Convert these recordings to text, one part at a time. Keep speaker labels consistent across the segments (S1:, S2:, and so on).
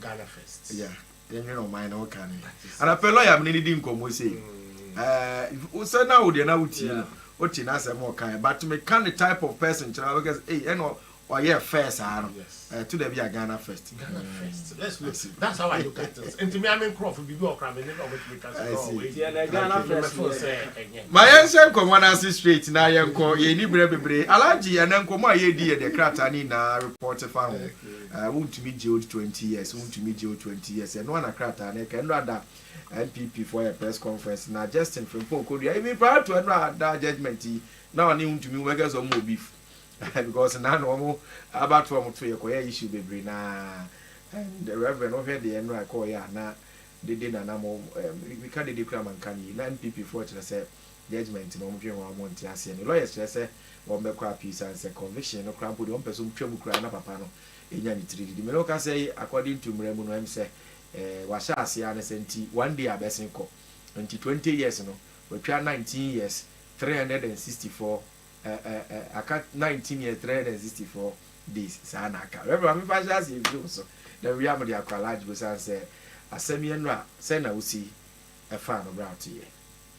S1: Ghana first. Yeah. Yɛnwene ɔman
S2: no ho ka ne. Anapɛ lɔya me ne no di nkɔmmɔ sei. Ɛɛ sɛ na wo deɛ na wotie no, wote n'asɛm a ɔkaeɛ but meka ne type of person kyerɛ wo a wobɛka sɛ ei ɛna ɔyɛɛ fair saa no. Ɛto da bi a Ghana first. Ghana first. Let's look. That's how I look at
S1: things. Nti me a me nkurɔfo biribi wɔ hɔ koraa me ne na wɔbɛtumi ka sɛ no wei deɛ na
S3: Ghana first. Me feel sɛ ɛnyɛ. Ma
S2: yɛnhyɛ nkɔmmɔ no ase straight na yɛnkɔ. Yɛnni berɛ bebree. Alhaji, ɛnnɛ nkɔmmɔ a yɛredi yɛ deɛ krataa no nyinaa report fa ho. Aah wontumi gye wo twenty years wontumi gye wo twenty years ɛno ara na krataa no reka ɛno ara da NPP foɔ ayɛ press conference na Justin Frimpong kɔdua even prior to ɛno ara da judgement yi na ɔne wo ntumi wobɛka sɛ wɔn wɔ beef because na na wɔn aba to wɔn to yɛ kɔyɛ issue bebree na and the reverend wohwɛ deɛ ɛno ara kɔɔyɛ a na dede na na mo meka dede kura ma nka no yi na NPP foɔ kyerɛ sɛ judgement no wɔn dwen ho a wɔn nte aseɛ ne lawyers kyerɛ sɛ wɔn bɛkɔ appeal sane sɛ conviction no koraa mpo deɛ wɔn pɛ sɛ wɔn twa mu koraa na papa no nya ne tiri didi me no kasa yi according to mmara mu no ɛm sɛ eh wahyɛ aseɛ ara ne sɛ nti one day abɛsen kɔ nti twenty years no watwa nineteen years three hundred and sixty four eh eh eh aka nineteen years three hundred and sixty four days saa na aka reverend maame fa hyɛ aseɛ mfiri wo so na wia mo de akɔ alage bo sane sɛ asɛm yɛ no a sɛ na wo si yi ɛfaa no bra wo te yɛ.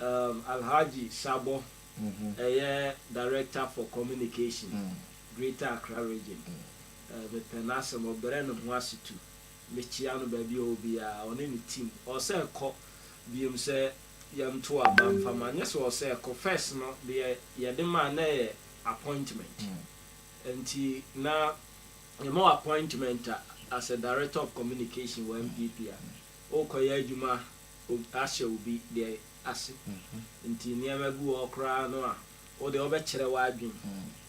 S3: Um Alhaji Sabor ɛyɛ Director for Communication Greater Accra Region um mepɛ n'asɛm ɔbrɛ ne ho ase tu mekyia no baabi a ɔwɔ biara ɔne ne team ɔsɛ kɔ biom sɛ yɛm to aba mfa ma nyɛ sɛ ɔsɛ kɔ first no deɛ yɛde maa na ɛyɛ appointment nti na yɛma wɔ appointment a as a Director of Communication wɔ NPP a ɔkɔ yɛ adwuma ahyɛ obi deɛ ase. Nti nneɛma bi wɔ hɔ koraa no a, wo deɛ wobɛkyerɛ w'adwene.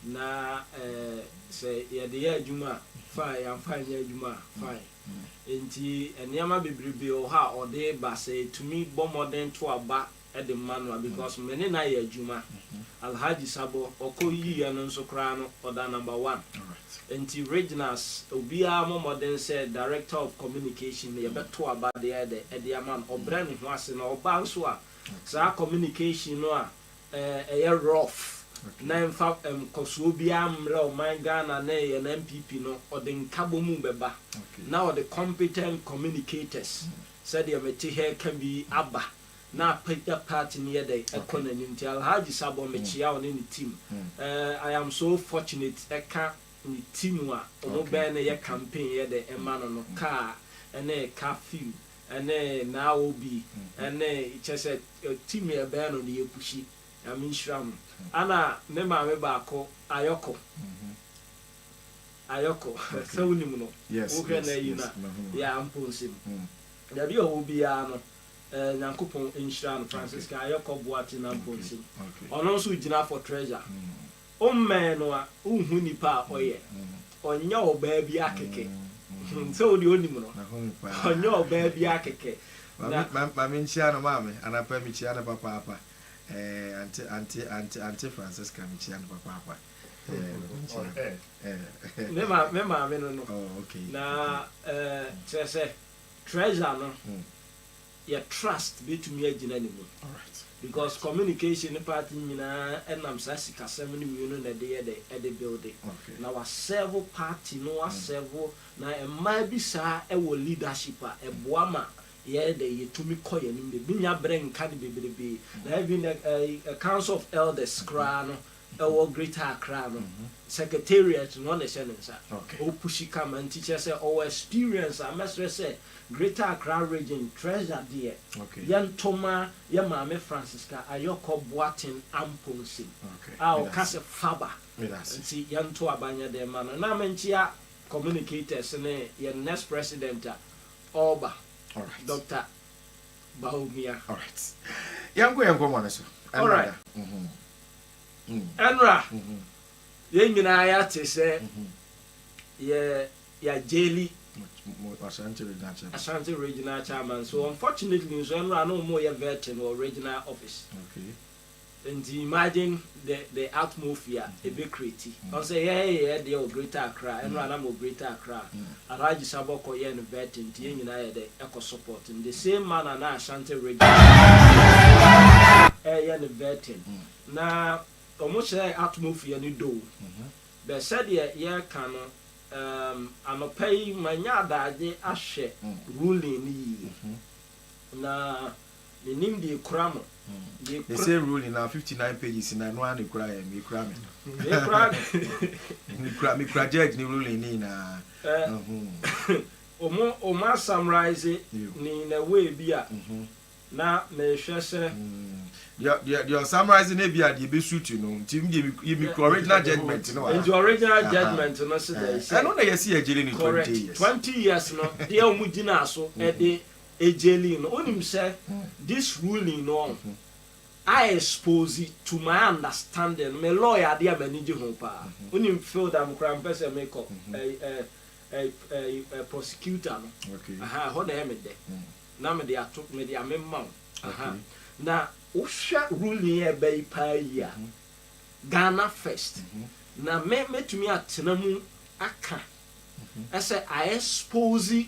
S3: Na ɛɛ, sɛ yɛde yɛ adwuma a, fine, yɛamfa anyɛ adwuma a, fine. Nti nneɛma bebrebe wɔ hɔ a ɔde ba, sɛ ɛtumi bɔ mmɔden to aba de ma no a, because me ne no ayɛ adwuma. Alhaji Sabɔ, ɔkɔ yiiɛ no nso koraa no, ɔda number one. Nti Reginus obiara mmɔ mmɔden sɛ Director of Communication no yɛbɛto aba de ayɛ dɛ de ama no, ɔbrɛ ne ho ase na ɔba nso a saa communication no a ɛyɛ rough na ɛmfa nkɔsoɔ biara mmrɛ ɔman Ghana ne yɛn NPP no ɔde nkabɔmu bɛba na ɔde competent communicators sɛdeɛ mete ha reka bi aba. na apagya party no yɛ dɛn ɛkɔ n'anim nti Alhaji Sabon mekyea wo ne ne team I am so fortunate ɛka ne team a ɔmo bɛɛ no yɛ campaign yɛ dɛ ɛma no no car ɛne curfew ɛne Naa Obi ɛne kyerɛ sɛ team yɛ bɛɛ no no yɛ pushi Nyame nhyira mo ɛna ne maame baako Ayɔko Ayɔko sɛ wo nim no wo hwɛ no ayi no a yeah Mponsem baabi a ɔwɔ biara no. Eh Nyankopɔn nhyira no Francisca Ayɔkɔ Boateng Amponsem ɔno nso ogyina for treasure Wommɛn no a wonhu nipa a ɔyɛ Ɔnyɛ ɔbaa bi akeke hmm sɛ wo deɛ wonim no Ɔnyɛ ɔbaa bi akeke na Ma
S2: menkyia no maame anapa mekyia no papaapa eh Ante Ante Ante Ante Francisca mekyia no papaapa
S3: eh Ma menkyia no eh Me ma me maame no no Oh okay na eh kyerɛ sɛ Treasure no yɛ trust bɛtumi agyina ne mu because
S2: communication
S3: no part no nyinaa ɛnam saa sikasɛm no mmienu na ɛde yɛ dɛ ɛde builde na wa
S2: serve
S3: party no wa serve na mmaa bi saa ɛwɔ leadership a ɛboa ma yɛyɛ dɛ yɛtumi kɔ yɛn anim de menya berɛ nka no bebrebe na even the council of elders koraa no ɛwɔ Greater Accra no secretariat no ɔna ɛhyɛ ne nsa ɔ pushi kama
S2: nti
S3: kyerɛ sɛ ɔwɔ experience a mɛsrɛ sɛ Greater Accra Region Treasure deɛ yɛnto ma
S2: yɛ
S3: maame Francisca Ayɔkɔ Boaten Amponsem a ɔka
S2: sɛ faba
S3: nti yɛnto aba nyɛ den ma no na menkyea communicators ne yɛn next president a ɔreba
S2: Doctor
S3: Bawumia. Alright.
S2: Yɛnkɔ yɛn nkɔmmɔ no so. Ɛnna da.
S3: Ɛnora, yɛn nyinaa yɛate sɛ yɛ yɛagyeli Ashanti Regional Chairman. Ashanti Regional Chairman. So unfortunately nso ɛnora na wɔyɛ vetting wɔ regional office. Okay.
S2: Nti imagine
S3: the the atmofia ebe creati, ɔnsɛ yɛ yɛ yɛ deɛ wɔ greater Accra, ɛnora na mewɔ greater Accra, Alhaji Sabɔkɔ yɛɛ no vetting nti yɛ nyinaa yɛ dɛ ɛkɔ support no, the same manner na Ashanti region ɛɛyɛ no vetting, na ɔmo hyɛɛ atmofia no doo, bɛ sɛdeɛ yɛ ka no um anɔpa yi manya adaagye ahwɛ ruling no yie, na. Menim deɛ ekura mo. They say
S2: ruling na fifty nine pages na ɛno ara na ekura yɛn ekura me. Ekura me. Mekura mekura judge ne ruling ne nyinaa.
S3: Wɔn wɔn a summarise ne in a way bi a na mehwɛ sɛ. Deɛ
S2: deɛ deɛ ɔsummarise no ebi a deɛ ebe suit no nti me deɛ mekura original judgement no wɔ ha. Nti original judgement
S3: no se dɛn sɛ. Ɛno na yɛsi yɛ gyere ne
S2: twenty years. Correct twenty years no
S3: deɛ wɔn gyina so de Ejelie no onim sɛ this ruling no ɔho a expose to my understanding no me law yɛ adeɛ a m'ani gye ho paa wonim field a me koraa mpɛ sɛ me kɔ ɛɛ prosecutor no aha ɛhɔ
S2: na ɛyɛ me dɛ
S3: na me de ato me de ame ma wo aha na wo hwɛ ruling a ɛba yi paa yi a Ghana first na me mɛtumi atena mu aka ɛsɛ a expose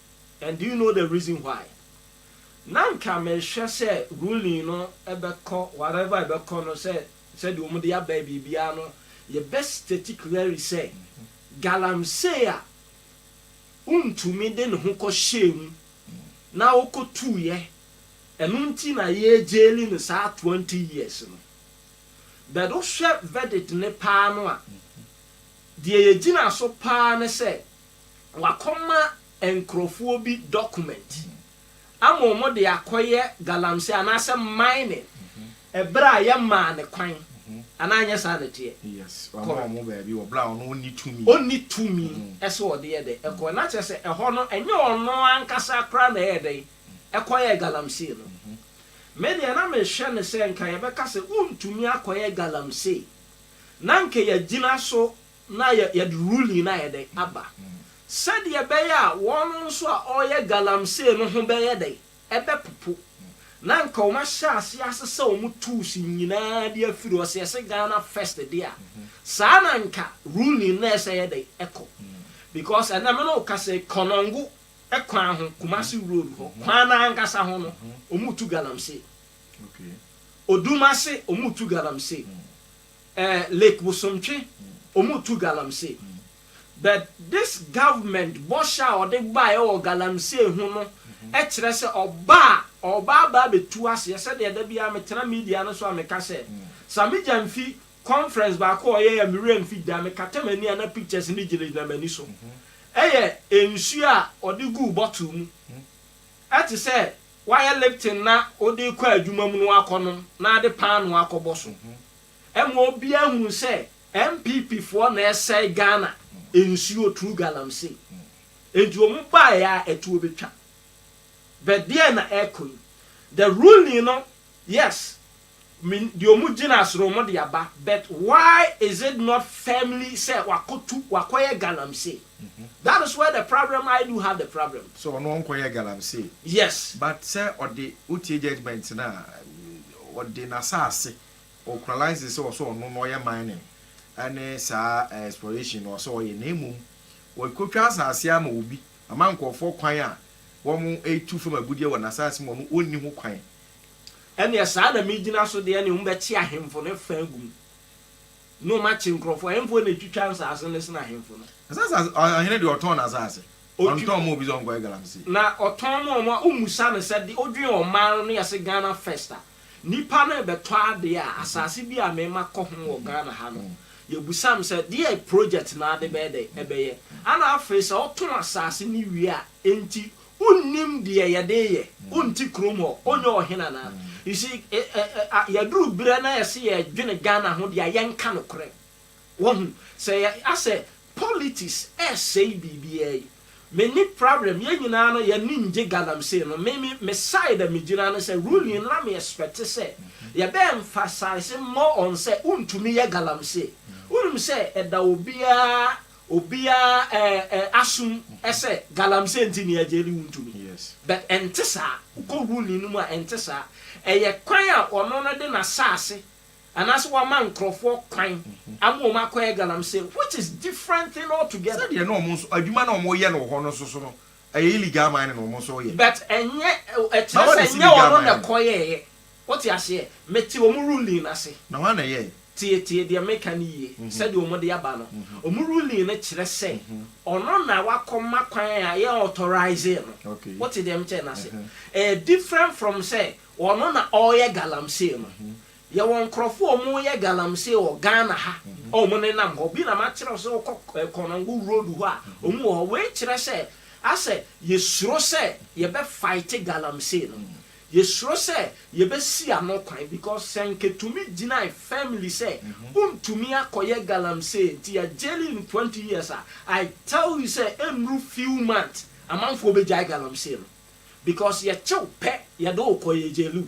S3: And do you know the reason why? Na nka mehwɛ sɛ ruling no bɛkɔ whatever ɛbɛkɔ no sɛ sɛdeɛ wɔn de aba yi biribiara no yɛbɛ state clearly sɛ galamsey a wontumi de ne ho kɔ hyɛɛ mu na ɔkɔ tuuiɛ ɛno nti na yɛ jaili no saa twenty years no but wohwɛ verdict no paa no a deɛ yɛgyina so paa ne sɛ Wɔakɔma nkorɔfoɔ bi document ama wɔn de akɔyɛ galamsey anaasɛ mining ɛberɛ a yɛmaa no kwan anaa anyɛ saa na ɛteɛ? Yes, wɔama wɔn
S2: baabi wɔ berɛ a ɔno ɔnni tumi. Ɔnni tumi
S3: sɛ ɔde yɛ dɛn? Ɛkɔ yɛ. Na kyerɛ sɛ ɛhɔ no ɛnyɛ ɔno ankasa koraa na ɛyɛɛ dɛn? Ɛkɔyɛɛ galamsey no. Me deɛ na mehwɛ no sɛ nka yɛbɛka sɛ wontumi akɔyɛ galamsey na nka yɛagyina so na yɛ yɛde ruling no ayɛ dɛn aba sɛdeɛ ɛbɛyɛ a wɔn nso a wɔyɛ galamsey no ho bɛyɛ dɛn ɛbɛpopo na nka wɔn ahyɛ aseɛ asesa wɔn tools nyinaa de afiri hɔ sɛ yɛse Ghana first deɛ a saa na nka ruling no ɛsɛ yɛ dɛn ɛkɔ because ɛnɛ me ne wo kasa yi Konongo kwan ho Kumasi road hɔ kwan no ankasa ho no wɔn retu galamsey
S2: Odumase
S3: wɔn retu galamsey Eh lake bosomtwe ɔmo tu galamsey but this government bɔhyɛ a ɔde baeɛ wɔ galamsey ho no kyerɛ sɛ ɔba a ɔba aba abɛtu aseɛ sɛdeɛ da biara me tena media no so a me ka sɛ sa me gya mfi conference baako a ɔyɛɛ a me werɛ mfi da me kata m'ani a na pictures no gyina gyina m'ani so ɛyɛ nsuo a ɔde guu bottle mu ɛte sɛ wayɛ lifting na ɔde rekɔ adwuma mu na wakɔ nom na ade paanoo akɔ bɔ so. Ɛma obiara hunu sɛ NPP foɔ na ɛsɛe Ghana nsuo through galamsey. Enti wɔn baeɛ ara ɛtuo bɛtwa. But deɛn na ɛrekɔ yi? The ruling no yes me deɛ wɔn gyina as no wɔn de aba but why is it not firmly sɛ wakɔtu wakɔyɛ galamsey? That is where the problem I do have the problem. Sɛ ɔno ɔnkɔyɛɛ
S2: galamsey. Yes. But
S3: sɛ ɔde
S2: wotie judgement no a Ɔde n'asaase ɔkuralayse sɛ ɔsɛ ɔno na ɔyɛ mining ɛne saa exploration no ɔsɛ ɔyɛ na mmom ɔkotwa asaase ara ma obi ama nkorɔfoɔ kwan a wɔn retu fam agudeɛ wɔ n'asaase mu a ɔno ɔnni ho kwan. Ɛneɛ
S3: saa na megyina so deɛ ɛneɛ wɔn bɛkye ahemfo no fã agu mu ne wɔn akye nkorɔfoɔ, ɛhefoɔ na ɛtwitwa nsaase no sene ahemfo no? Ɛsɛ sɛ ɔhene
S2: deɛ ɔtɔn n'asaase. Otwi Ɔntɔn ma obi sɛ ɔnkɔyɛ galamsey. Na ɔtɔn ma wɔn
S3: a wommisa no sɛ de odwen ɔman no ne yɛse Ghana first a, nnipa no rebɛtɔ adeɛ a, asase bi a me ma kɔ ho wɔ Ghana ha no, yɛbisa no sɛ deɛ project no ara de bɛyɛ dɛ? Ɛbɛyɛ. Ɛna afei sɛ ɔtɔn asase no wie a, enti wonnim deɛ yɛde reyɛ? Wonte kurom hɔ? Wonyɛ ɔhene anaa? You see, ɛ ɛ ɛ a yɛaduru berɛ na yɛse yɛredwene Ghana ho deɛ a, yɛnka nokorɛ. Wahu? Sɛ yɛ a sɛ politics ɛɛsɛe biribiaa yi, me nni problem, yɛn nyinaa no yɛn ani ngye galamsey no, me me me side a me gyina ne sɛ ruling no na me expect sɛ yɛ bɛ emphasize more on sɛ wo ntumi yɛ galamsey, wo nim sɛ ɛda obiaa obiaa ɛɛ ɛ asom ɛsɛ galamsey nti ne yɛ gyeli wo ntumi but ɛnte
S2: saa,
S3: wo kɔ ruling no mu a ɛnte saa, ɛyɛ kwan a ɔno no de n'asaase Anaasɛ wɔama nkurɔfoɔ kwan ama wɔn akɔyɛ galamsey which is different thing altogether. Sɛdeɛ na wɔn nso adwuma
S2: na wɔn reyɛ no wɔ hɔ no nso so no, ɛyɛ illegal mining na wɔn nso reyɛ. But ɛnyɛ,
S3: ɛkyerɛ sɛ ɛnyɛ wɔn na ɛkɔyɛeɛ. Wote aseɛ? Mete wɔn ruling no ase. Na hwan na ɛyɛeɛ?
S2: Tie, tie deɛ mereka
S3: no yie, sɛdeɛ wɔde aba no. Wɔn ruling no kyerɛ sɛ ɔno na wakɔma kwan a yɛauthorize no. Wote deɛ mekyerɛ no
S2: ase?
S3: Ɛyɛ different from sɛ Ɔno na ɔyɛ galamsey no. Yɛwɔ nkorɔfoɔ a ɔmo yɛ galamsey wɔ Ghana ha a ɔmo nenam hɔ. Bi na makyerɛ wo sɛ wokɔ Konongo road hɔ a ɔmo wɔ hɔ. Wei kyerɛ sɛ asɛ yɛsuro sɛ yɛbɛ fight galamsey no. Yɛsuro sɛ yɛbɛ si ano kwan because sɛ nka tumi gyinae firmly sɛ wontumi akɔyɛ galamsey nti yɛ jail no twenty years a, I tell you sɛ ɛnnuru few months amanfoɔ bɛgyae galamsey no. because yɛkye wo pɛ yɛde wo kɔ yɛ gyelu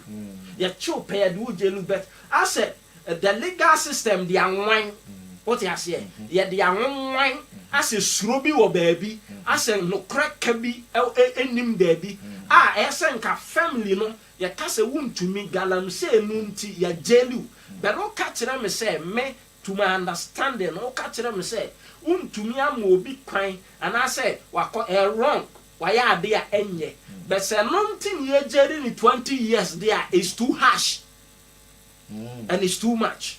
S3: yɛkye wo pɛ yɛde wo gyelu but asɛ the legal system de anwan wote aseɛ yɛde anwanwan asɛ suro bi wɔ baabi asɛ nokorɛ ka bi ɛnim baabi a ɛyɛ sɛ nka family no yɛka sɛ wontumi galamsey no nti yɛ gyelu but woka kyerɛ me sɛ me to my understanding woka kyerɛ me sɛ wontumi ama obi kwan anaasɛ wakɔ ɛyɛ wrong. Wayɛ ade a ɛnyɛ bɛ sɛ no nti ne yɛgyeri ne twenty years deɛ a it's too harsh and it's too much.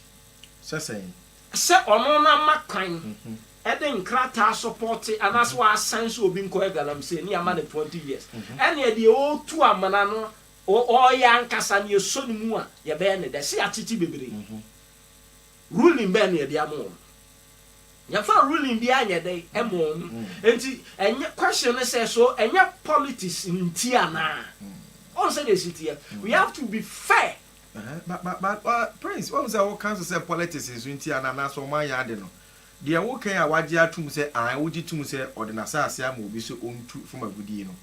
S3: Sɛ sɛn?
S2: Sɛ ɔno
S3: no ama kwan de nkrataa sɔpɔte anaasɛ waasɛn sɛ obi nkɔyɛ galamsey ne yɛama no twenty years. Ɛnneɛ deɛ ɔretu amena no ɔreyɛ ankasa no yɛsɔ ne mu a yɛbɛyɛ ne dɛ sɛ yɛatete bebree. Ruling bɛn na yɛde ama wɔn? Yɛmfa ruling biara nyɛ dɛn mma wɔn. Enti ɛnyɛ question no sɛ so ɛnyɛ politics nti anaa? Wohu sɛdeɛ ɛsi teɛ? We have to be fair. Ɛhɛn, but but but uh,
S2: Prince, wohu sɛ woka nso sɛ politics nso nti anaa anaasɛ wɔn anyɛ ade no, deɛ woka yi a wagye atom sɛ ae wogye tom sɛ ɔde n'asaase ama obi sɛ ɔntu fam agudie no,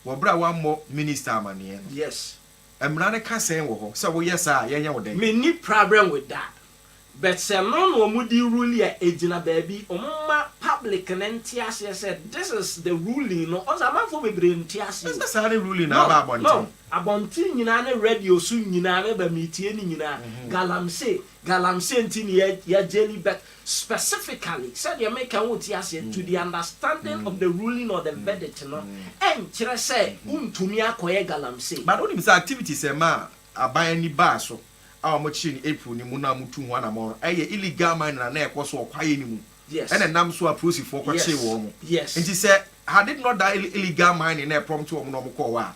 S2: wɔ berɛ a wammɔ Minister amaneɛ no. Yes. Mmara
S3: no ka
S2: sɛn wɔ hɔ? Sɛ woyɛ saa a, yɛnyɛ wo dɛn? Menni prabrɛ nwe
S3: da. But sɛ no na ɔmo de rule a egyina baabi ɔmo mma public no nte aseɛ sɛ this is the ruling no ɔsɛ amanfoɔ bebree nte aseɛ o. Ɛsɛ saa ne ruling na
S2: aba abɔnten. No no abɔnten
S3: nyinaa ne radio so nyinaa meba metie ne nyinaa galamsey galamsey nti ne yɛ yɛ jelly but Specifically, sɛdeɛ meka wo nte aseɛ, to the understanding of the ruling or the verdict no nkyerɛ sɛ wontumi akɔyɛ galamsey. But wonim sɛ activities
S2: a ɛmaa aban ani baa so a wɔkyeree no April no mu no a motuu ho anamɔn no, ɛyɛ illegal mining a na ɛrekɔ so wɔ kwaeɛ no mu Yes. na ɛnam so a
S3: prosifoɔ
S2: kɔkyeree Yes. wɔn. Yes. Nti sɛ
S3: had it
S2: not that illegal mining na ɛprompte wɔn na wɔkɔɔ hɔ a,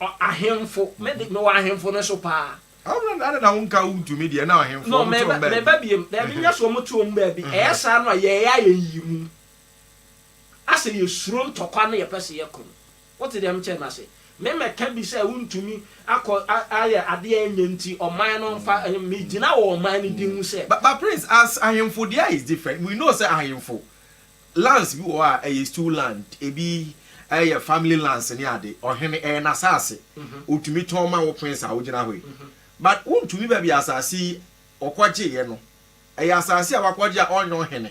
S3: Ɔ ahemfo, me de, mewɔ ahemfo no so paa. Ɔ na na na wonka wo ntumi deɛ, na ɔhemfo,
S2: No, wɔto wɔn meba, baabi. meba biem.
S3: Daabi, nyɛ sɛ wɔto wɔn baabi. Ɛyɛ saa no a, yɛyɛ ayɛyiyimu. Asɛ yɛsuro ntɔkwa na yɛpɛ sɛ yɛko no. Wote deɛ mekyerɛ no ase? Memmɛka bi sɛ wontumi akɔ a ayɛ adeɛ a ɛnyɛ nti ɔman no mfa, ɛnyɛ, megyina wɔ ɔman no din ho sɛ, But, but Prince, as
S2: ahemfo deɛ is different. We know sɛ ahemfo, Lands bi wɔ hɔ a ɛyɛ stew land, ebi yɛ family lands ne ade, ɔhene ɛyɛ n'asaase, ɔtumi tɔn ma wo prince a wogyina hɔ yi, but wontumi baabi a asaase yi ɔkɔgyeeɛ no, ɛyɛ asaase a wakɔgye a ɔnyɛ ɔhene,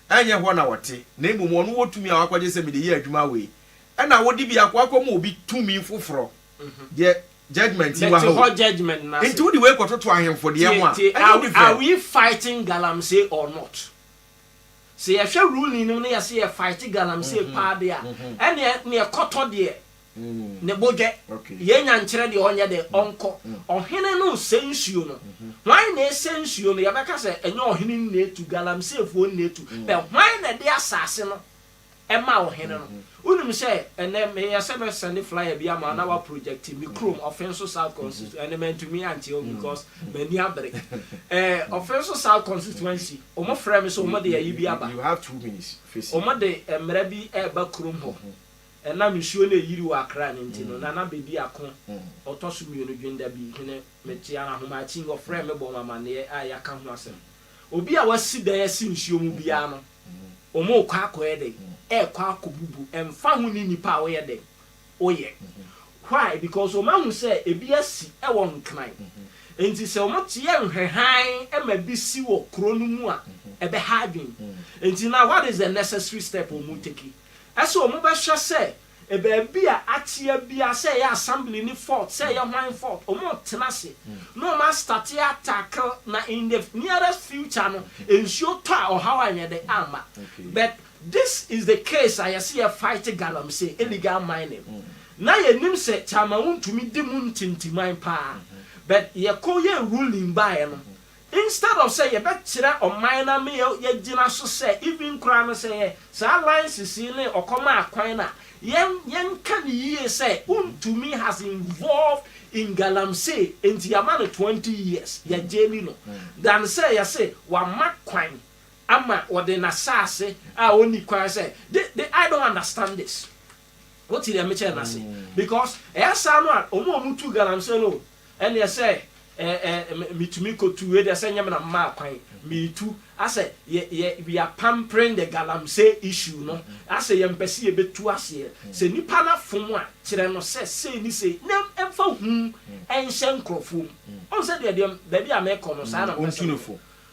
S2: ɛnyɛ hɔ na ɔte, na mmom ɔno wɔ tumi a wakɔgye sɛ mede yɛ adwuma wei, ɛna wode bi akɔ akɔma obi tumi foforɔ, deɛ judgement yi wɔ ha o, nti wode
S3: wei kɔtoto ahemfo
S2: deɛ ho a, ɛnyɛ wo de frɛ. Are we
S3: fighting galamsey or not? Sɛ yɛhwɛ ruling no mu na yɛse yɛ fight galamsey paa deɛ a, ɛneɛ neɛ ɛkɔtɔ deɛ ne bo dwɛ. Yɛn nya nkyerɛ deɛ ɔnyɛ dɛn, ɔnkɔ. Ɔhene no nsɛ nsuo no. Hwan na ɛsɛ nsuo no? Yɛbɛka sɛ ɛnyɛ ɔhene nnetu, galamseyfoɔ nnetu. But hwan na ɛde asase no ɛmaa ɔhene no. Wonim sɛ ɛnnɛ meyɛ sɛ mɛsɛnde flyer bi ama wo na woaprojecte me kurom, Ɔfenso South Constitu, ɛnde mantumi ankyerɛ wo because m'ani abere. Eh, Ɔfenso South Constituency, wɔfrɛɛ me sɛ wɔde ayi bi aba. Wɔde
S2: mmara bi
S3: reba kurom hɔ. Ɛnam nsuo no a ɛyiri wɔ Accra no nti no, Nana Bedi Ako, ɔtɔ so mmienu, Dwendabi hene, mete ara, Ahomakying, wɔfrɛɛ me bɔɔ me amanneɛ a yɛaka ho asɛm. Obi a wasi dan asi nsuo mu biara no, wɔrekɔ akɔyɛ dɛn? Ɛrekɔ akɔbubu, ɛmfa ho ne nnipa a woyɛ dɛn? Woyɛ. Why? Because wɔahu sɛ ebi asi wɔ Nkran. Enti sɛ wɔyɛ nhwɛhan ma bi si wɔ kuro no mu a, ɛbɛha adwene. Enti now what is the necessary step wɔretake? Ɛsɛ wɔbɛhwɛ sɛ. Baabi a akyea biaa sɛ ɛyɛ assembly no fault sɛ ɛyɛ hwan fault ɔmo tena ase na ɔmo a start a tackle na in the nearest future no nsuo tɔ a ɔhaw anyɛ dɛ amma but this is the case a yɛse yɛ fight galamsey illegal mining na yɛnim sɛ Kyama wontumi di mu ntintiman paa but yɛkɔ yɛɛ ruling baeɛ no Instead of sɛ yɛbɛkyerɛ ɔman na me yɛ yɛ gyina so sɛ even koraa no sɛ yɛ saa alliances yi ne ɔkɔm a kwan no a yɛn yɛn ka no yie sɛ wontumi has involved in galamsey nti yɛama no twenty years yɛ gyeli no than sɛ yɛse wama kwan ama ɔde nasaase a ɔnni kwan sɛ the the I don't understand this. Wo te deɛ me kyɛɛ no ase because ɛyɛ saa no a ɔmo a ɔmo tu galamsey no ɛneɛ sɛ eh eh me tumi kɔ tu wei deɛ sɛ nyɛ me na me maa kwan me tu asɛ yɛ yɛ we are pampering the galamsey issue no asɛ yɛ mpɛ sɛ yɛ bɛ tu aseɛ sɛ nipa no afom a kyerɛ no sɛ sei ne sei na ɛmfa hum ɛnhyɛ nkorɔfoɔ mu ɔhu sɛ deɛ deɛ baabi a me kɔ no saa na mpɛ sɛ me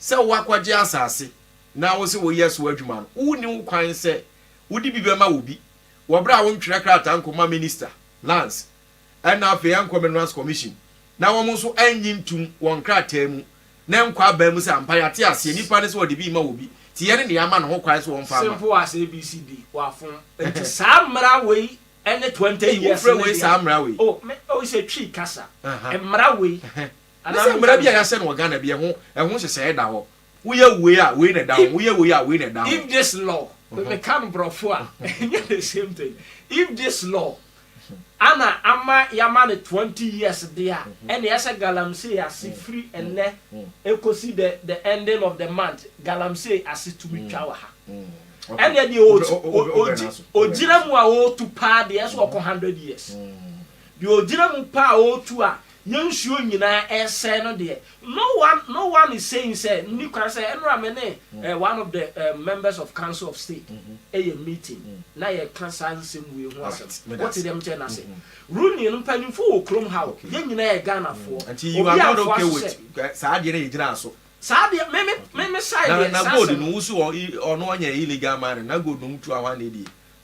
S2: Sɛ woakɔgye asase na wose woyɛ so adwuma no, wonni ho kwan sɛ wode bi bɛma obi wɔ bere a wontwerɛ krataa nkɔma Minista, Lands, ɛna afei ɛnkɔ Minerals Commission na wɔn nso annye ntom wɔ nkrataa mu na ɛnkɔ aban mu sɛ ampa yɛate aseɛ nipa no sɛ ɔde bi rema obi nti yɛne nea ama no ho kwan sɛ ɔmfa mma. Simple as ABCD,
S3: wafom. Nti saa mmara wei ne twenty years no deɛ. Ei, wofrɛ wei saa mmara wei?
S2: Oh, me, oh, it's a Twi
S3: kasa. Mmara wei. Ɛna sɛ mmara bi
S2: a yɛahyɛ no wɔ Ghana bi ɛho ɛho nhyehyɛeɛ da hɔ. Woyɛ wei a wei na ɛda ho, woyɛ wei a wei na ɛda ho. If this law,
S3: meka no borɔfo a ɛnyɛ the same thing, if this law ana ama yɛama no twenty years deɛ a, ɛnneɛ ɛsɛ galamsey ase firi ɛnnɛ ɛkɔsi the the ending of the month, galamsey ase tumi twa wɔ ha. Ɛnneɛ deɛ ɔgyina mu a ɔretu paa deɛ ɛsɛ ɔkɔ hundred years. Deɛ ɔgyina mu pɛ a ɔretu a na nsuo nyinaa resɛe no deɛ, no one no one is saying sɛ nni kwan sɛ ɛnora me ne one of the members of council of state yɛ meeting na yɛka saa nsɛm wei ho asɛm. Wote deɛ mekyerɛ no ase? Rooney no mpanyimfoɔ wɔ kurom ha o, yɛn nyinaa yɛ Ghanafoɔ. Obi amfoa
S2: so sɛ. Saa adeɛ no a yɛgyinaa so. Saa deɛ
S3: me me me me side
S2: deɛ saa asɛm no. Na gold no wo
S3: so
S2: ɔno ɔnyɛ illegal mining na gold no
S3: motu
S2: ahwane deɛ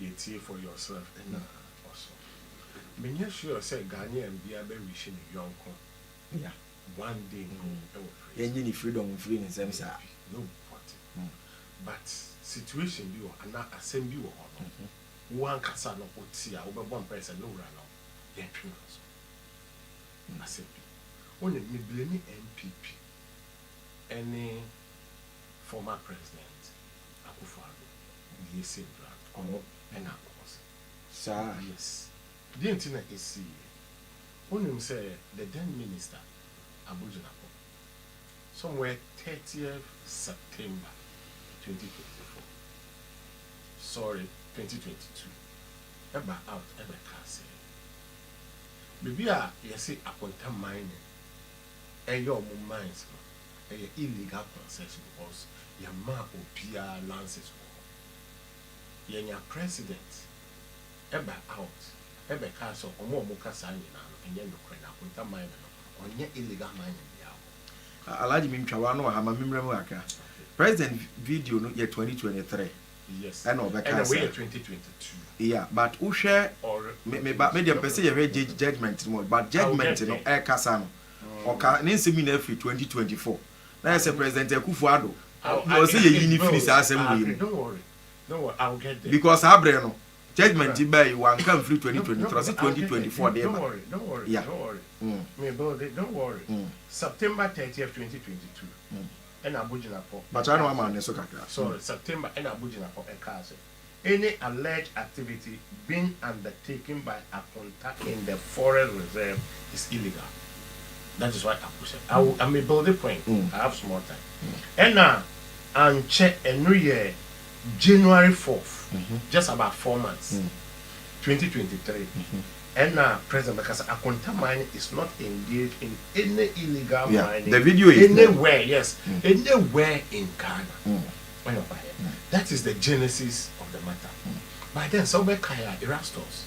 S1: Yɛ tie for your self na ɔso. Me nyɛ sure sɛ Ghanaian bia bɛ wishi ne yɔnko ya
S2: one day
S1: mpo ɛwɔ freedom. Yɛ nyi ne
S2: freedom nfiri ne nsɛm saa. Daabi no wate
S1: but situation bi wɔ anaa asɛm bi wɔ hɔ no wo ankasa no wo te a wo bɛ bɔ mpaɛ sɛ me wura no yɛ ntwe no nso asɛm bi wo nim me blame NPP ɛne former president Akuffo Addo. Oye se bra ɔno na ɔwɔ se. Saa?
S2: Yes.
S1: Deɛ nti na ɛsiiɛ. Wonim sɛ the then minister Abogyinakɔ somewhere thirtieth September twenty twenty four, sorry twenty twenty two, ɛbaa out ɛbɛkaa sɛ baabi a yɛse Akonta mining, ɛyɛ ɔmo mines no ɛyɛ illegal concession because yɛmaa obiaa lances wɔ hɔ. Yɛnya president ɛba out ɛbɛkaa sɛ ɔmo a ɔmo ka saa nyinaa no ɛnyɛ nokorɛ na Akonta mining no ɔnyɛ illegal mining biaa wɔ hɔ. Alhaji me ntwa
S2: w'ano wɔ ha ma me mmra mu kakra. President video no yɛ twenty twenty three. ɛna
S1: ɔbɛkaa
S2: saa
S1: yeah
S2: but wohwɛ me me ba me
S1: deɛ mpɛ sɛ
S2: yɛhwɛ judge judgement no mu but judgement no ɛkasa no ɔka ne nsɛm nyinaa firi 2024 na yɛ sɛ president akufo ado na ɔsɛ yɛyi ne firi saa asɛm wei mu
S1: because saa berɛ no
S2: judgement baa yi wanka mfiri 2023 ɔsɛ 2024 deɛ ba
S1: yeah mm. Mm. ɛna abogyinafo ɛkaa sɛ,
S2: sorry, September
S1: ɛna abogyinafo ɛkaa sɛ, any alleged activity being undertaken by Akonta in the forest reserve is illegal. That is why Aku said, I will, I may build a point, I have small time. Ɛna ankyɛ, ɛno yɛ January fourth, just about four months, twenty twenty three. Ɛna president bɛka sɛ akonta mining is not engaged in any illegal Yeah, mining the video is there. anywhere,
S2: yes,
S1: anywhere in Ghana. Ɛna ɔbaeɛ. That is the genesis of the matter. By then, sɛ wobɛkae a, Erastus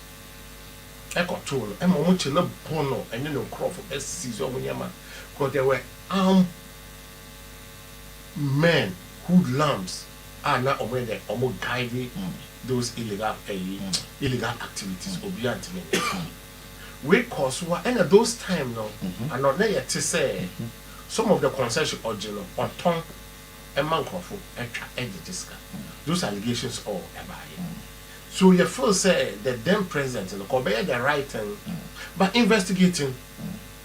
S1: ɛkɔtoo no, ɛma wɔkye no bɔ no, ɛne ne nkurɔfo seize wɔn nneɛma, because there were armed men who lamps. a na ɔmo yɛ dɛ ɔmo guide those illegal ɛyi illegal activities obiaa ntumi wei kɔɔ so a ɛna those time no anɔ na yɛ te sɛ some of the concession ɔgye no ɔtɔn ɛma nkorɔfo ɛtwa ɛgye gye sika those allegations all ɛbaa yɛ so yɛ feel sɛ the then president no kɔ ɔbɛyɛ the right thing by investigating.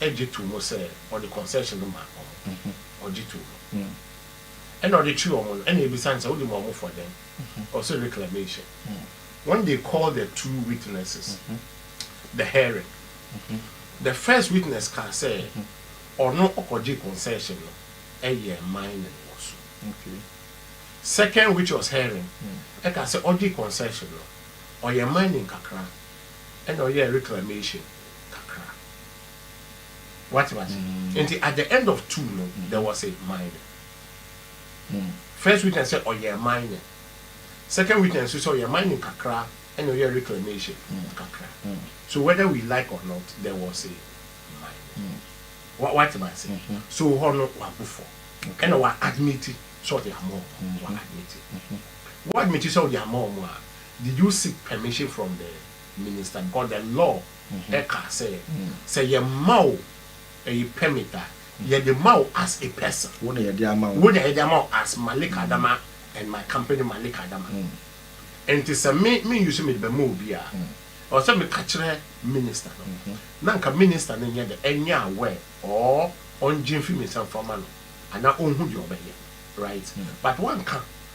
S1: gye too mu sɛ ɔde concession no ma wɔn. Ɔgye too mu. Ɛna ɔde twe wɔn no, ɛna ebisa no sɛ, Wode ma wɔn fɔ dɛn? Ɔse reclamation. When they called the two witnesses, the hearing, the first witness kaa sɛ, Ɔno ɔkɔgyee concession no, ɛyɛɛ mining wɔ so. Second which was hearing, ɛkaa sɛ, Ɔgyee concession no, ɔyɛɛ mining kakra. ɛna ɔyɛɛ reclamation kakra wate mase nti at the end of two no there was a mining first witness sɛ ɔyɛ mining second witness nso sɛ ɔyɛ mining kakra ɛna ɔyɛ reclamation kakra so whether we like or not there was a mining wate mase so hɔ no wabu fɔ ɛna wa admit sɛ ɔde ama ɔmo wa admit wa admit sɛ ɔde ama ɔmo a Did you seek permission from the minister because the law ɛka sɛ sɛ yɛ ma wo ɛyi permit a yɛ de ma wo as a person wo na yɛ de ama wo wo na yɛ de ama wo as Malik Adama and my company Malik Adama nti sɛ me me use me de bɛ ma obi a ɛwɔ sɛ me ka kyerɛ minister no na nka minister no nyɛ dɛ ɛnyɛ aware or ɔngye nfiri me nsa mfa ma no anaa ɔnhu deɛ ɔbɛyɛ right but wanka.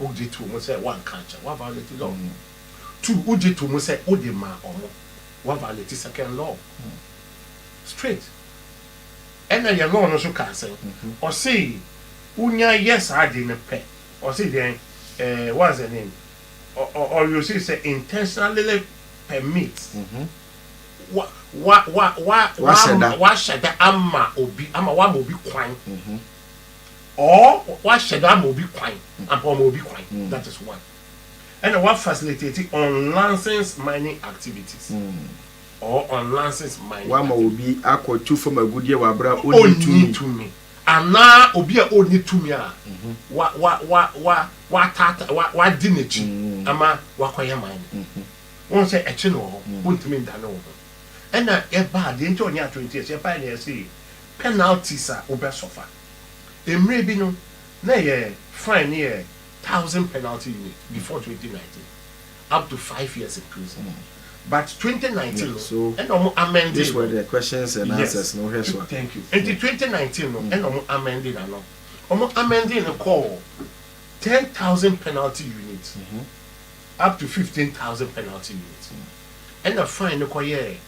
S1: Wogye to mu sɛ woanka ankyɛ, woaviolate law. Two, wogye to mu sɛ wode maa wɔn, woaviolate second law. Straight. Ɛnna yɛn law no nso kaa sɛn? Ɔse wonya yɛ saa ade no pɛ, ɔse deɛn eh, what's the name, ɔ ɔ ɔreuse sɛ intentionally permit, wa wa wa wa Wahyɛ da. wahyɛ da ama obi, ama woama obi kwan. or wahyɛ da ama obi kwan ampa ɔma obi kwan mm. that is one ɛna wa facilitate unlicensed mining activities mm. or unlicensed mining wama obi akɔ
S2: tu fam agudeɛ wɔ abira ɔni tumi tumi
S1: anaa obi a ɔni tumi a mhm. wa wa wa wa wa tata wa wa di n'akyi mm. ama wakɔyɛ mining mhm. wɔn sɛ ɛkyi na wɔ hɔ wɔntumi nda ne wɔ hɔ ɛna ɛbaa deɛ nti ɔnyɛ atwere nti ɛsɛ paa na ɛsɛ yɛ. Penalties a wobɛsɔfa. Mmerɛ bi no, na ɛyɛ fine no yɛ thousand penalty unit before twenty nineteen, up to five years in prison but twenty nineteen no ɛna ɔmo
S2: amɛnde no,
S1: yes thank you,
S2: nti twenty nineteen
S1: no ɛna ɔmo amɛnde no ano, ɔmo amɛnde no kɔɔ ten thousand penalty unit up to fifteen thousand penalty unit ɛna fine no kɔyɛɛ.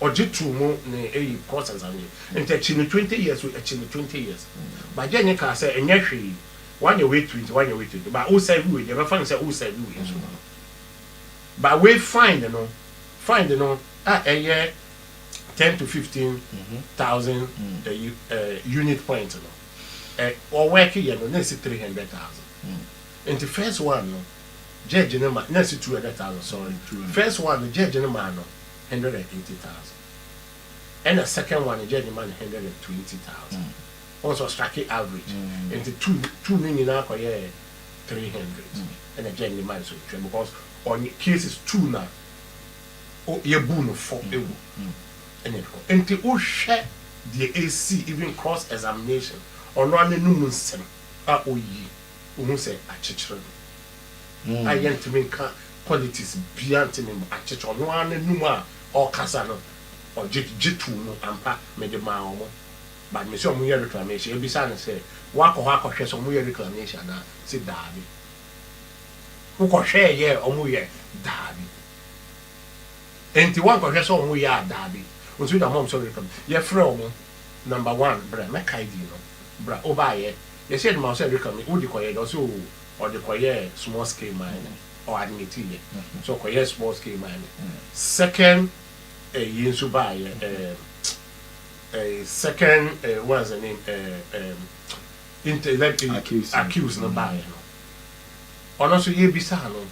S1: Ɔgye too mu ne eyi process anyi nti akyi no twenty years o akyi no twenty years but gyɛ nye kaa sɛ nyɛ hwee wanyɛ wei to nti wanyɛ wei to nti but o serve wei deɛ bɛfa no sɛ o serve wei nso no but wei find no find no a ɛyɛ ten to fifteen thousand ɛyi ɛɛ unit point no ɛ ɔwɛke yɛ no na esi three hundred thousand nti first one no. Judge no ma na si two hundred thousand sorry first one no judge no maa no hundred and eighty thousand ɛna second one no judge no ma no hundred and twenty thousand wɔn sɛ ɔstraki average nti two two no nyinaa kɔ yɛ three hundred ɛna judge no ma no so twɛ because on cases two na o yɛ bu no fɔ ewu ɛna ɛkɔ nti wohwɛ deɛ esi even cross examination ɔno ananum nsɛm a oyi. Wohu sɛ akyekyere no a yɛntumi nka politics biara ntumi mma akyekyere ɔno ara n'anum a ɔkasa no ɔgye gye too mu ampa mede maa wɔn but mese wɔn yɛ reclamation ɛbisa no sɛ woakɔ hɔ akɔhwɛ sɛ wɔn yɛ reclamation anaa ɔse daabi wokɔ hwɛɛ yɛɛ wɔn yɛ daabi enti woankɔhwɛ sɛ wɔn yɛ a daabi nso gya mom sɛ reclam yɛfrɛ wɔn number one brɛ mɛkae din no bra wobaayɛ Mehyɛɛ no ma ɔsɛ ɛde ka me, wode kɔyɛ dɛ? Ɔse oo, ɔde kɔyɛɛ small scale mining, ɔ admiti yɛ sɛ ɔkɔyɛɛ small scale mining. Second ɛyi nso baayɛ, ɛɛm ɛyi second ɛɛ what's the name ɛɛ ɛɛm inter elect ɛyi Accuse no. accuse no baayɛ no, ɔno nso yɛbisaa no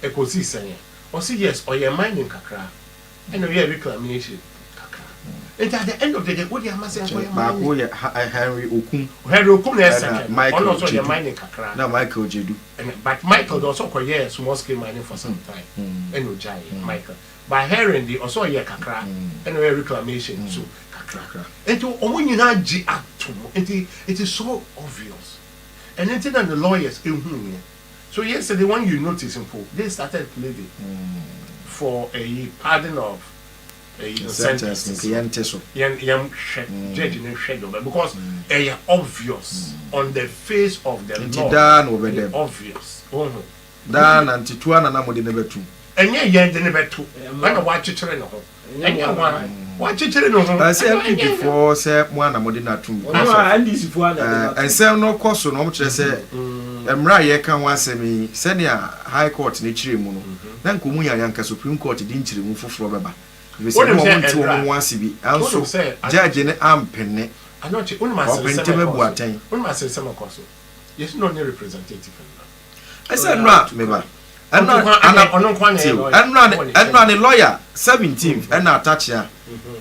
S1: ɛkɔsii sɛn ɛ? Ɔse yes, ɔyɛɛ mining kakra. Ɛna ɔyɛɛ Rico Aminekyire kakra nti at the end of the day wode ama sɛ nkɔyɛ mining. Baako yɛ Henry Okum.
S2: Henry Okum
S1: na ɛyɛ second no ɔno na ɔsɛ ɔyɛ mining kakra. Ɛna Michael Jedu.
S2: Ɛna but Michael deɛ
S1: ɔsɛ ɔkɔyɛɛ small scale mining for some time ɛna ɔgyaeɛ Michael but Henry deɛ ɔsɛ ɔyɛɛ kakra ɛna ɔyɛɛ reclamation nso kakra nti wɔn nyinaa gye atom nti it is so obvious ɛno nti na ne lawyers hunuiɛ. So yesterday when you notice mpo they started pleading for ɛyi pardon of ɛyi no sentence no nti yɛnte so yɛn yɛn hwɛ judge no nhwɛ deɛ ɔbɛ because ɛyɛ obvious on the face of the nti law daa na wɔbɛda ɛyɛ mu obvious wohu daa
S2: na nti tu ana na mode no bɛto ɛnyɛ yɛn de no
S1: bɛto ɛna wakyekyere ne ho. Ɛnyɛ mo ara wakyekyere ne ho. Ɛsɛ NPPfoɔ
S2: sɛ mo ara na mode no atom kwan so. Ɔno a NDCfoɔ ara na ɛde no atom kwan. Nsɛm no kɔ so na wɔkyerɛ sɛ mmerɛ a yɛreka ho asɛm yi, sɛnea High Court no kyerɛɛ mu no, na anka wɔn nyinaa yɛ anka Supreme Court de nkyerɛmu foforɔ bɛba, ɛfiri sɛ na wɔnte wɔn ho ase bi, nanso Judge no ampene,
S1: ɔpɛ ntɛm abu atɛn. Ɛsɛ ɛno a me
S2: ba. Ɛno ana ɔno nko ana ɛyɛ lawyer. Ɛno ana ɛno ana lawyer seventeenth ɛna Atakyea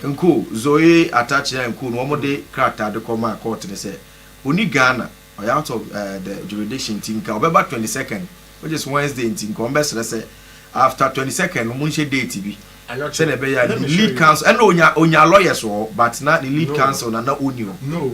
S2: Nkoo Zoe Atakyea Nkoo no wɔn de krataa de kɔ maa court no sɛ ɔni Ghana ɔyɛ out of the jurisdiction nti nka ɔbɛba twenty second which is Wednesday nti nka wɔn bɛ srɛ sɛ after twenty second no mo nhyɛ date bi sɛnea ɛbɛyɛ a ne lead counsel ɛna onya onya lawyers wɔ hɔ but na ne lead counsel na na ɔni hɔ.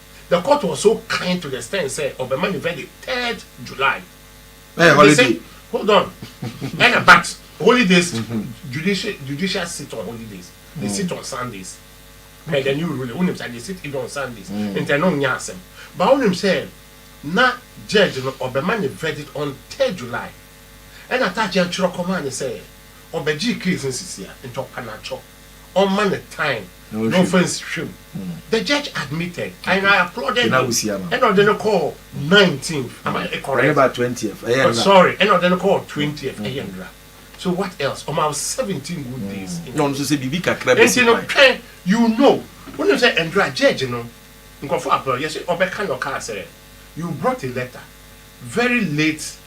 S1: The court was so kind to the extent sɛ ɔbɛma ne verdict third July. Ɛyɛ holiday.
S2: Hold on.
S1: Ɛna but holidays judicial judicial sit on holidays. They sit on Sundays. Ɛyɛ the new ruling. Wonim sɛ they sit even on Sundays. Nti ɛno nyɛ asɛm. But wonim sɛ na judge no ɔbɛma ne verdict on third July. Ɛna Tachian twerɛ kɔmaa no sɛ ɔbɛgyee case no sisia nti ɔkwa no atwɔ. ɔmma no time na ɔmfa nsi hwɛ mu. The judge admitted and I applauded him ɛna ɔde no kɔɔ nineteenth am I correct? Oh
S2: sorry ɛna ɔde
S1: no kɔɔ twentieth ɛyɛ nnora so what else ɔma wo seventeen good days in the court
S2: nti no twɛn
S1: you know wonim sɛ nnora judge no nkurɔfoɔ applaud yɛse ɔbɛka na ɔkaa sɛ you brought a letter very late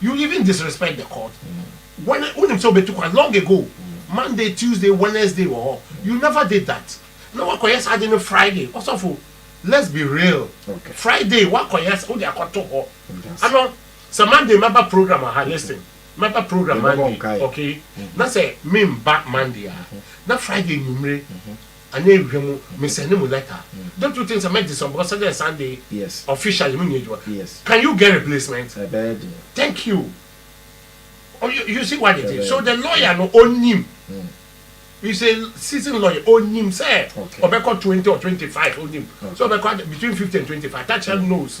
S1: You even disrespect the court when wonim sɛ wobɛtu kwan long ago Monday, Tuesday, Wednesday wɔ hɔ you never did that na woakɔyɛ saa ade no Friday ɔsɔfo let's be real Friday woakɔyɛ asa wode akɔto hɔ ano sɛ Monday mɛba program wɔ ha listen mɛba program Monday okay na sɛ memba Monday a na Friday anwummere Anyɛ edwuma mu, me sɛnde mo lɛta. Don't you think sɛ mɛ disɔn bikɔs sɛdɛ Sunday officially me
S2: nyɛ edwuma?
S1: Can you
S2: get replacement?
S1: Ɛbɛyɛ den. Thank
S2: you.
S1: You see what it is? So the lawyer no ɔnim. He's a seasoned lawyer, ɔnim sɛ ɔbɛkɔ twenty or twenty five, ɔnim sɛ ɔbɛkɔ between fifty and twenty five, Thatchell knows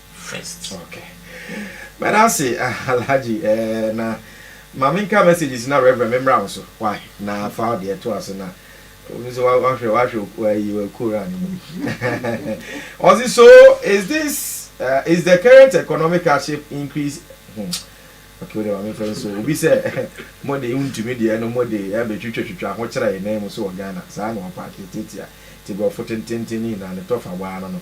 S1: first. Ok
S2: mɛda ase Alhaji eh na ma me nka messages na Rev me mmra wo so wai na fa wo deɛ to ase na wo nso wa wa hwɛ wa hwɛ ayi wa kura ne mu ɔsi so is this uh, is the current economic hardship increase hmm ok wo deɛ ma me nfa nso obi sɛ mo de ntumi deɛ no mo de ɛbɛ twitwa twitwa ho kyerɛ yɛn nan mu so wɔ Ghana saa na ɔpaake tiatia ti borɔfo tententen ne nyinaa ne tɔfa waa no no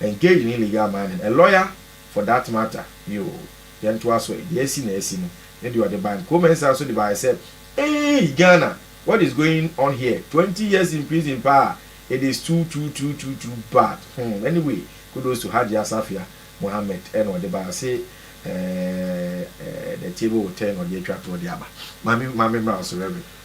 S2: Engage ne legal mining, a lawyer for that matter ni oo, yɛntoa so ɛ, deɛ asi na asi no ne deɛ ɔde bae no, Kooh-Mensah nso de baeɛ sɛ, Eeii Ghana, what is going on here, twenty years in prison paa, it is too too too too too bad, hmm, anyway, kudos to Hajji Asafia Mohammed, ɛna ɔde bae, ɔse eh eh the table will turn, ɔde atwa toɔ de aba, ma me ma me mmra wo so Rev.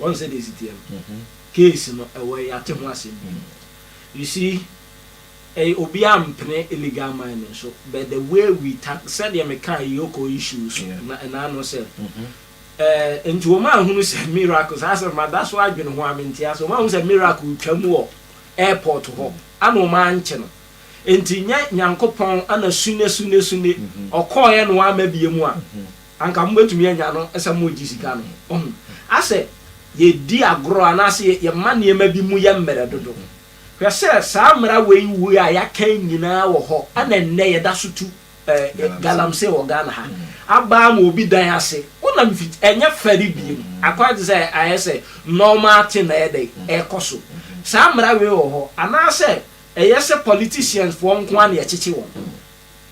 S3: wɔn sɛ deɛ siteɛ no case no ɛwɔ yɛate ho asɛm bi you see ɛyɛ obi a mpene illegal mining so but the way we tack sɛdeɛ meka yoko issues so na ɛna ano sɛ ɛɛ nti wɔn ahunu sɛ miracle saa sɛ mada so adwene ho a mente ase wɔn ahunu sɛ miracle twa mu wɔ airport hɔ ana wɔn ankye no nti nyɛ nyankopɔn ana sune sune sune ɔkɔɔɛ no ama bie mu a. Mm-hmm. Anka mobɛtumi anya no sɛ moregye sika no. Wahu? Asɛ yɛdi agorɔ anaasɛ yɛma nneɛma bi mu yɛ mmerɛ dodo. Hwɛ sɛ saa mmara wei wei a yɛaka yi nyinaa wɔ hɔ na nnɛ yɛda so tu galamsey wɔ Ghana ha. Abaa ma obi dan ase, wonam fi, ɛnyɛ fɛre bio. Akwan te sɛ ayɛ sɛ normal thing na ɛyɛ dɛn? Ɛrekɔ so. Saa mmara wei wɔ hɔ anaasɛ ɛyɛ sɛ politicians foɔ nko ara na yɛkyekye wɔn?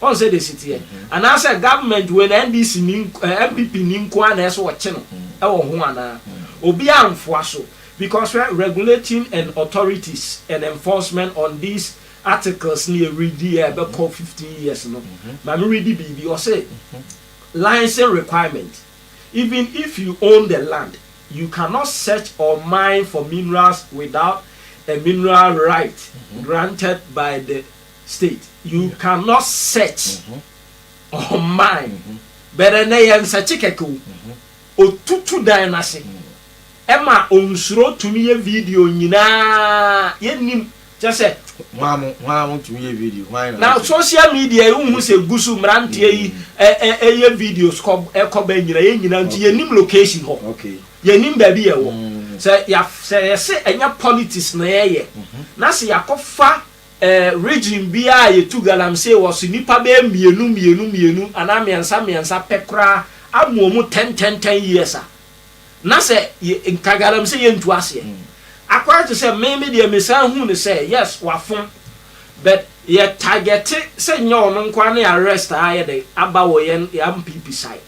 S3: Wɔn sɛ desi teɛ. Anaasɛ government wei no NDC ni eh, NPP ni nko ara na ɛsɛ ɔkye no ɛwɔ ho anaa? Obiara nfoa so because hwɛ regulating and authorities and enforcement on these articles no yɛ read yi a ɛbɛkɔ fifteen years no ma me read biribi ɔse licence requirement even if you own the land you cannot search or mine for minerals without a mineral right granted by the state you can not search online bɛrɛ nɛ yɛ nsɛkye kɛkɛ o otutu dan no ase ɛma onsuro tumi yɛ video nyinaa yɛ nim kyɛ sɛ hwan mo tumi
S2: yɛ video hwan na social
S3: media yi wohu sɛ gu so mmeranteɛ yi ɛyɛ videos kɔ ɛkɔ bɛ nyina yɛ nyina nti yɛ nim location hɔ yɛ nim baabi
S2: yɛ wɔ
S3: sɛ yɛ sɛ ɛnyɛ politics na yɛ yɛ na sɛ yɛakɔfa Eh, region biara a yɛtu galamsey wɔ so, nnipa bɛyɛ mmienu mmienu mmienu anaa mmiɛnsa mmiɛnsa pɛ koraa amoa wɔn ten ten ten years a, na sɛ yɛ, nka galamsey yɛntu aseɛ. Akora te sɛ me, me deɛ mesan huu no sɛ, yes, wafom, but yɛ targete sɛ nyɛ ɔno nko ara ne arrest a ayɛ dɛn aba wɔ yɛn MPP side.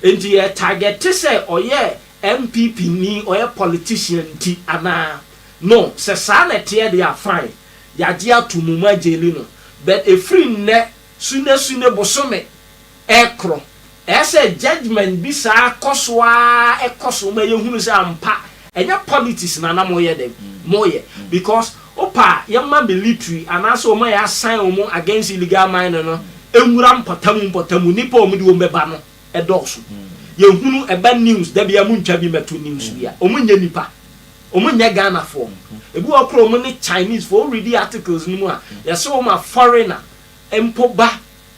S3: Enti yɛ targete sɛ ɔyɛ MPP ni, ɔyɛ politician nti anaa? No, sɛ saa na ɛteɛ deɛ a fine, yɛagye ato mu, moagyeli no, but ɛfiri nnɛ Sunday Sunday bosome ɛkoro, ɛyɛ sɛ judgement bi saa kɔ so ara ɛkɔ so ma yɛhunu sɛ ampa ɛnyɛ politics na na moyɛ dɛn? Moyɛ, because wopɛ a yɛmma military anaasɛ wɔn a yɛasan wɔn against illegal mining no nwura mpɔtamu mpɔtamu, nnipa a wɔn de wɔn bɛba no dɔɔso, yɛhunu ɛba news, da biara montwa bi mmɛto news bi a, wɔnyɛ nnipa. Ɔmo nyɛ Ghana foɔ mo. Ebi wɔ hɔ koraa ɔmo ne Chinese foɔ. Wo readi articles no mu a, yɛse wo ma foreigner mpo ba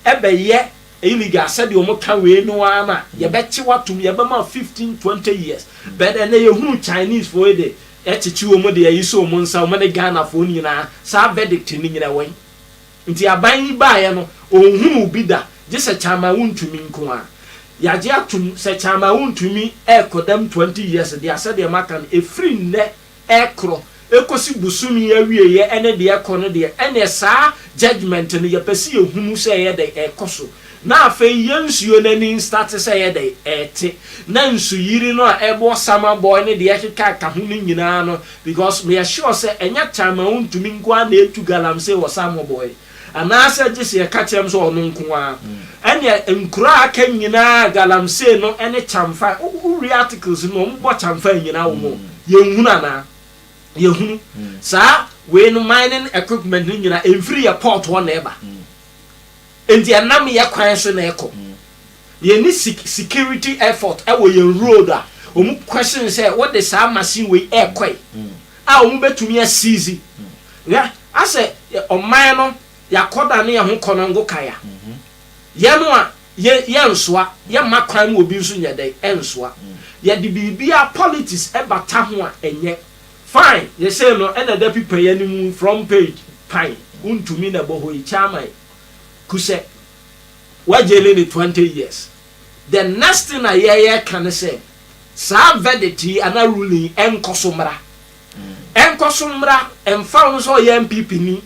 S3: ɛbɛyɛ illegal sɛdeɛ ɔmo ka wei no ara no a, yɛbɛkye wo atom, yɛbɛma wo fifteen, twenty years. But ɛnɛ yɛhunu Chinese foɔ yi de ɛkyekye ɔmo de ayi so ɔmo nsa, ɔmo ne Ghana foɔ no nyinaa, saa verdict no nyina ɛwɔ he? Nti aban yi baeɛ no, ɔnhunuu bi da, gye sɛ Kyama-Wontumi nko ara. Yɛagye atom sɛ Kyama-Wontumi rekɔdam 20 years de asɛ deɛ maka no, ɛfiri nnɛ rekorɔ kɔsi bosome yi awieɛ ne deɛ ɛkɔ no deɛ, ɛnneɛ saa judgement no yɛpɛ sɛ yɛhunu sɛ ɛyɛ dɛn ɛrekɔ so. Na afei yɛn nsuo no ani nstate sɛ ɛyɛ dɛn? Ɛrete. Na nsuyiri no a ɛbɔ Summer Boy ne deɛ ɛkeka ka ho no nyinaa no, because me yɛ sure sɛ ɛnyɛ time a wontumi nko ara na ɛtu galamsey wɔ Summer Boy, anaasɛ gye sɛ yɛka kyerɛ me sɛ ɔno nko ara. Ɛnneɛ nkuro a aka nyinaa galamsey no ne kyamfa, wowie articles no na wɔbɔ kyamfa nnyina wɔ mu. Yɛnhunu anaa? Yɛhunu. Saa wei no mining equipment no nyinaa ɛmfiri yɛn port hɔ na ɛba. Enti ɛnam yɛ kwan so na ɛkɔ. Yɛnni sik security effort wɔ yɛn road a wɔn question sɛ wode saa machine wei ɛrekɔe a wɔn bɛtumi a seize. Hwɛ asɛ ɔman no yɛakɔ dane yɛn ho kɔnɔngo kan a, yɛn a yɛ yɛnsoa, yɛmma kwan ma obi nso nyɛ dɛn? Ɛnsoa. Yɛde biribiara politics bata ho a ɛnyɛ. Fine yɛ sei no ɛna ɛda pipa yi anim front page pan wo ntumi na ɛbɔ hɔ yi chairman kusɛ wa jaili no twenty years the next thing a yɛ yɛ ka ne sɛ saa verdict yi ana ruling yi ɛnkɔ so mmra ɛnkɔ so mmra ɛmfa ho sɛ ɔyɛ npp ni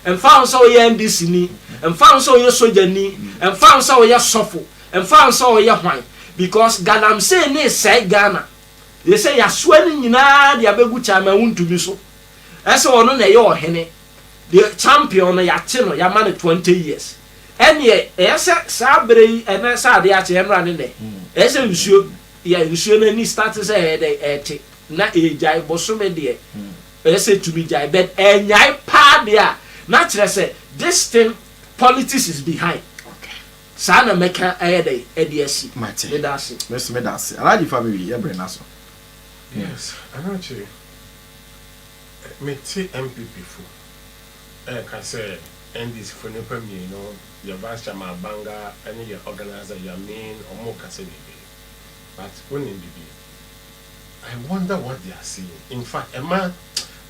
S3: ɛmfa ho sɛ ɔyɛ ndc ni ɛmfa ho sɛ ɔyɛ soja ni ɛmfa ho sɛ ɔyɛ sɔfo ɛmfa ho sɛ ɔyɛ hwan because galamsey ne sɛe Ghana Ɛsɛ sɛ yɛasoa ne nyinaa de abɛgu Chan Mawuntumi so. Ɛsɛ sɛ ɔno na ɛyɛ ɔhene. The champion no, yɛate no, yɛama no twenty years. Ɛnneɛ, ɛyɛ sɛ saa berɛ yi, ɛnnɛ sɛ adeɛ akye, ɛmmra ne nnɛ. Ɛyɛ sɛ nsuo, yɛ nsuo no ani starte sɛ ɛyɛ dɛn, ɛrete, na ɛregyae. Bosome deɛ, ɛyɛ sɛ ɛtumi gyae, but ɛnnyae paa deɛ a, na kyerɛ sɛ, this thing, politics is behind. Saa na mɛka ayɛ dɛn adi asi? Mate. Meda ase. Me nso meda ase. Alhaji fa me wie,
S2: yɛ bere no aso. Yes,
S1: Alhaji. Mete NPP fo reka sɛ NDC fo nnipa mmienu, yɛ Vice Chairman Abanga ne yɛ Organiser Yamin, wɔn rekasa biribi. But wonim biribi? I wonder what they are saying. In fact, ɛma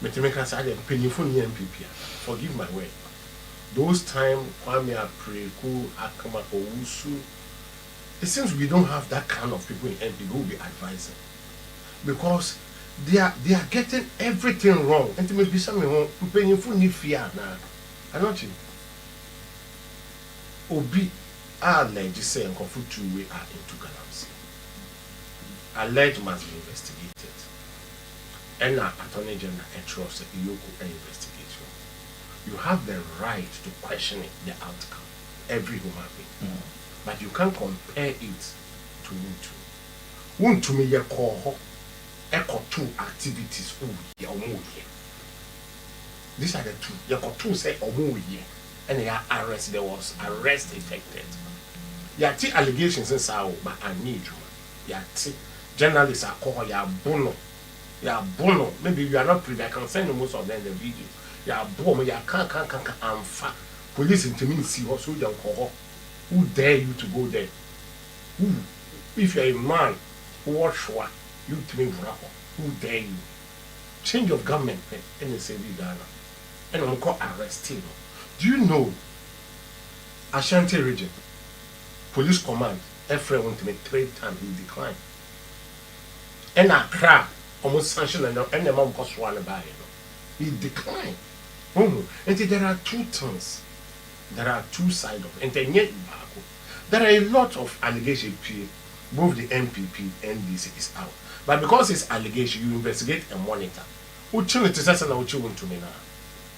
S1: metumi ka saa deɛ mpanyinfo nni NPP a, forgive my word. Those time Kwame Apreku Ackman Owusu it seems we don't have that kind of people in NPP who will be advising because they are they are getting everything wrong nti me bisa me ho mpanyinfo nni fie anaa anɔkye obi a allege sɛ nkurɔfo tuu we are into galamsey allege must be investigated ɛna attorney general ɛkyerɛw sɛ yoko investigate no. you have the right to question it the outcome every human being but you can't compare it to wotu wontumi yɛ kɔɔ hɔ ɛkɔtoo activities ooh yɛ ɔmo yɛ these are the two yɛ kɔtoo sɛ ɔmo yɛ ɛna yɛ arrest there was arrest effected yɛate allegations nsaa oo but anyɛ adwuma yɛate journalist akɔ hɔ yɛabo no. yɛabɔ no na bi wia na prida can send most of them the video yɛabɔ ɔmo yɛakaakaakaka amfa police ntumi nsi hɔ soldier nkɔ hɔ who dare you to go there who if you are a man wowɔ hwewa you tumi nwura hɔ who dare you change of government pɛ ɛna ɛsɛ bi Ghana ɛna ɔmo kɔ arresting no do you know Ashanti region police command ɛfrɛ wɔn ntumi three times he declined. ɛna kra a ɔmo san hyɛ no ɛna ɛma nkɔsoɔ no baeɛ no it decline wohu nti there are two things there are two side of nti ɛnyɛ baako there are a lot of allegation pie both the NPP NDC is out but because it's allegation you investigate and monitor wokyi no te sɛ sɛna wokyi wo ntumi no a.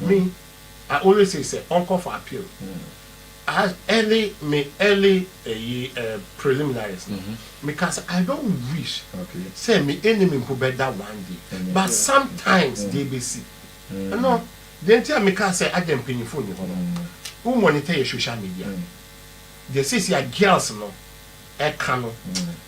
S1: Me, I always say sɛ ɔnkɔ for appeal as early me early ɛyi eh, preliminaries no me ka sɛ I don't wish sɛ me anim mpo bɛ da one day but sometimes deɛ ɛbɛsi no deɛ nti a me ka sɛ adɛn mpanyinfoɔ nni hɔ no wo monitor yɛ social media deɛ seesia girls no ɛka no.